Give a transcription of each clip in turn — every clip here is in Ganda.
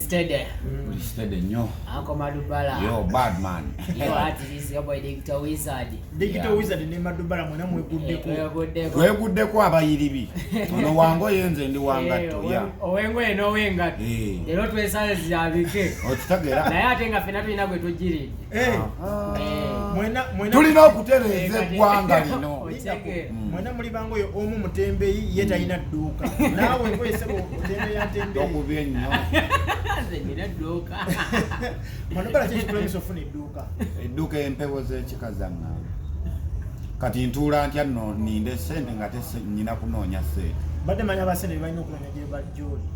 Steady. Mm. Steady nyo. Uncle Madubala. Yo, bad man. Yo, at this your boy Digital Wizard. Digital yeah. Wizard ne Madubala mwena mweguddeko. Eh, mweguddeko. Mweguddeko abayiribi. Ono wango yenze ndi wangatto eh, ya. Owengo eno wengatto. Eh. Lero twesale zirabike. Okitagera. Naye ate nga fena tulina gwe tujjiride. Eh. Eh. tulina okutereeza eggwanga lino mm. mwena muli bango oyo omu mutembeyi ye mm. talina dduuka naawe nkoesebotembeyatembeyiokubi ennyo manobala kyekikulemesa ofuna edduuka edduuka empewo z'ekika zaŋŋamba kati ntuula ntya no ninde sente nga tenyina kunoonya sente badde manya basente bebalina okunoonya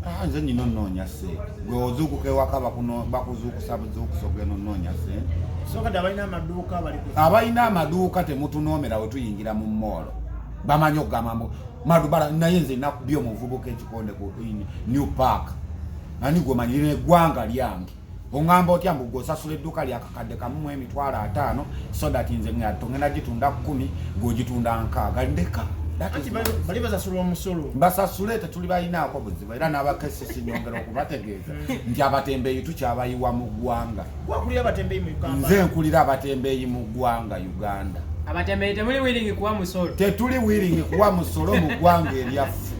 Ah, nze nyina onoonya sente gwe ozuukuka ewaka bakuzuukusa buzuukusa ogenda onoonya sente abalina amaduuka temutunoomera we tuyingira mu moolo bamanyi okugamba mbu madubala naye nze nakubya omuvubuka ekikonde ku new park ani gwe manyirira eggwanga lyange ongamba otya mbu gwosasula edduuka lyakakadde kamu mu emitwalo ataano so that nze ngatto ngenda gitunda kumi gwogitunda nkaaga ndeka basasule tetuli balinaako buzibu era n'abakesisi nyongera okubategeeza nti abatembeeyi tukyabayiwa mu ggwanga nze nkulira abatembeeyi mu ggwanga uganda tetuli wiringi kuwa musolo mu ggwanga eryaffe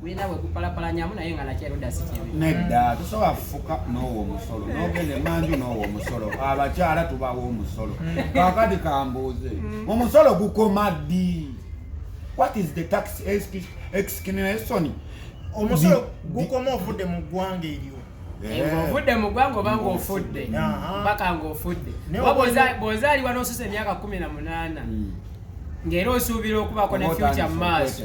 gulina bwe gupalapalanyamu naye nga nakyeruda si kibi nedda tosobola kufuka n'owo omusolo n'ogenda emanju n'owo omusolo abakyala tubawo omusolo kakati kambuuze mm. omusolo gukoma ddi what is the tax exclamation omusolo gukoma ovudde mu ggwanga eryo Eh. ng'ovudde mu ggwanga oba ng'ofudde mpaka ng'ofudde bw'ozaalibwa n'osusa emyaka kumi na munaana hmm. ng'era osuubira okubaako ne fyuca mu maaso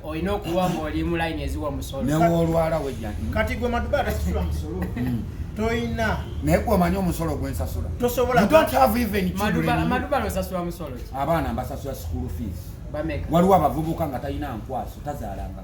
olina okuba ng'oli mu layini eziwa omusolokati gwe maduba atasasula musolo hmm. toyina naye gwe omanyi omusolo gwensasula tosobolaamaduba losasula musolo abaana mbasasula school fees waliwo abavubuka nga talina nkwaso tazaalanga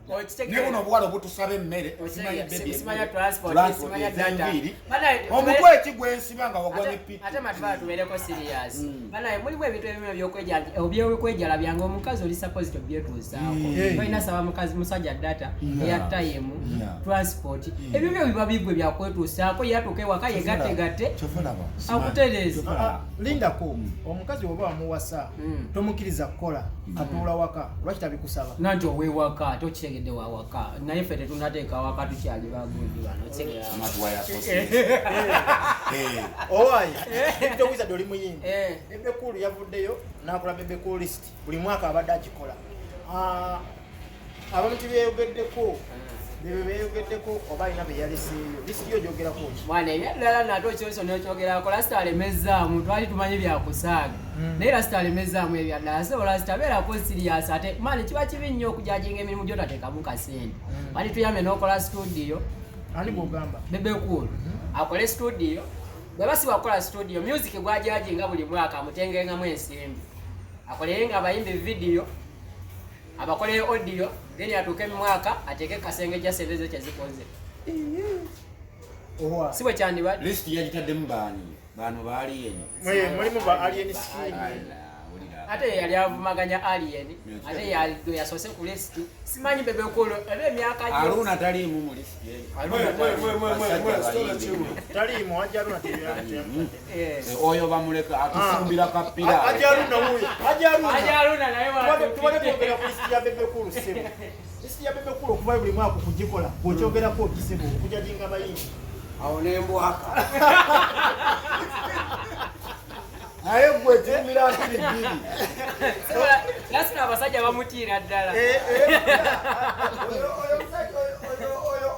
ne buno obuwala obutusaba emmere osimanya bebisimanya transport osimanya data omutwe eki gwensiba nga wagwa ne piki ate matubala tubeereko serious mm. banaye mulimu ebintu ebimu ebyokwejala byange omukazi oli supposed to byetuusaako mm. tolina saba mukazi musajja data eya time transport mm. ebyo byo biba bigwe byakwetuusaako yatuuka ewaka yegategatte akutereeza ah, ah, lindako omukazi oba wamuwasa tomukiriza kukola atuula waka lwaki tabikusaba nanti owewaka ate okitegedde wawaka naye ffe tetunateeka waka tukyali bagundi bano owaye towiza doli muyimbi bebekulu yavuddeyo nakola bebekulu list buli mwaka abadde agikola ah, abamu tibyeyogeddeko bebe beyogeddeko oba alina beyaleseeyo lisiti yo gyogerako mwana ebyaddala nate okyoso nokyogerako lasita alemezzaamu twali tumanyi byakusaaga hmm. naye lasita alemezzaamu ebyaddala so lasita beerako siriyasi ate mani kiba kibi nnyo okujajinga emirimu gyotatekamu kasente hmm. mani tuyambe nokola situdiyo ani gwogamba bebe kuulu hmm. akole situdiyo bweba siwakukola situdiyo music gwajajinga buli mwaka amutengengamu ensimbi akolerenga abayimbi vidiyo abakolere audio then atuuke mu mwaka ateeke kasenge ja sente ze kyezikoze si bwe kyandibadde list yagitaddemu baani baano ba alien mulimu ba alien skin ate yali avumaganya alien ate yalido yasoose ku list simanyi bebekulu ebe emyaka aluna taliimu mu list taliimu wajja aluna Eh, oyo bamuleka atufumbira ah. kapira okuvayo buli mwaka okugikola bwekyogerako okisibu okujajinga abayingi awo nembwaka naye gwe kimira nkiri bbiri lasita abasajja bamutiira ddala eh, eh.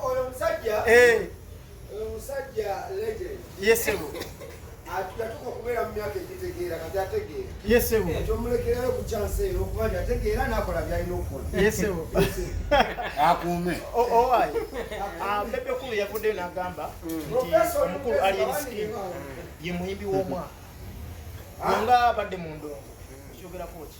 oyo omusajja yatuka okubeera mu myaka egitegeera kati ategeera yesebo ekyomulekerayo ku kyansi ero okuba nti ategeera n'akola byalina okukola yesebo akuume owaayi bebe kulu yavuddeyo n'agamba nti omukulu aliensikin ye muyimbi w'omwaka nga abadde mu ndongo ekyogerako ki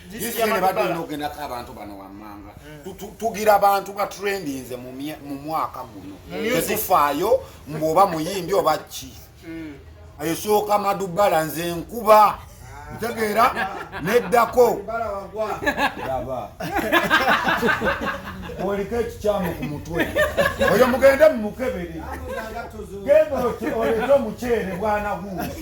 bagenda abantu bano wammanga hmm. tugira abantu batrendinze mu mwaka guno tetufaayo mbuoba muyimbi oba ki hmm. esooka madubala nze nkuba ntegeera neddako oliko ekikyamu ku mutwe oyo mugende mumukebere genda olete omuceere bwanaguuzi